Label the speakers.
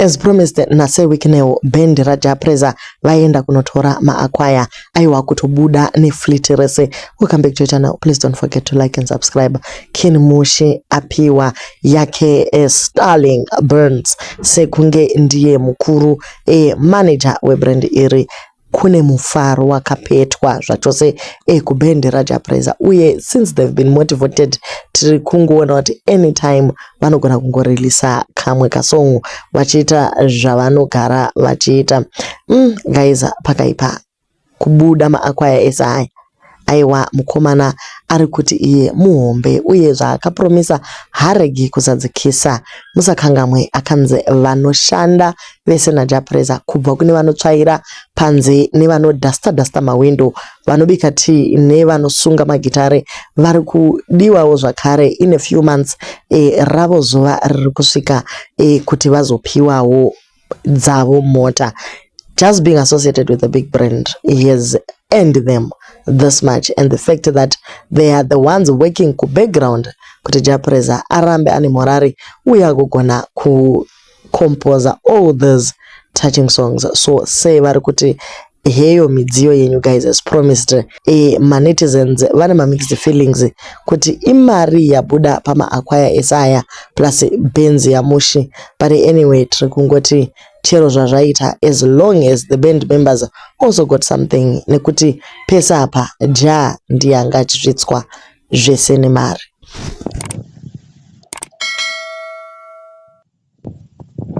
Speaker 1: As promised nase Wicknell band raJah Prayzah vaenda kunotora maakwaya aiwa kutobuda nefleet rese. We'll come back to your channel. Please don't forget to like and subscribe. Kin Mushe apiwa yake eh, Starling Burns sekunge ndiye mukuru eh, manager webrand iri. Kune mufaro wakapetwa zvachose eh kuband raJah Prayzah uye since they've been motivated tiri kungoona kuti anytime vanogona kungo releaser kamwe kasong vachiita zvavanogara vachiita umm guys pakaipa kubuda maAcquire ese aya. Aiwa mukomana arikuti iye muhombe uye zvaakapromisa haaregi kuzadzikisa. Musakangamwe akanzi vanoshanda vese naJapreza kubva kune vanotsvaira panze nevano duster duster mahwindo, vanobika tea nevanosunga magitare varikudiwawo zvakare in a few months ravo zuva ririkusvika kuti vazopiwawo. dzavo mota just being associated with a big brand has earned them this much and the fact that they are the ones working kubackground kuti japreza arambe ane morari uye agogona kucomposa all these touching songs so sei vari kuti heyo midziyo yenyu guys as promised eh, manetizens vane mamixed feelings kuti imari yabuda pamaakwaya esaya plus benzi yamushi but anyway tiri kungoti chero zvazvaita as long as the band members also got something nekuti pese apa ja ndiye anga achisvitswa zvese nemari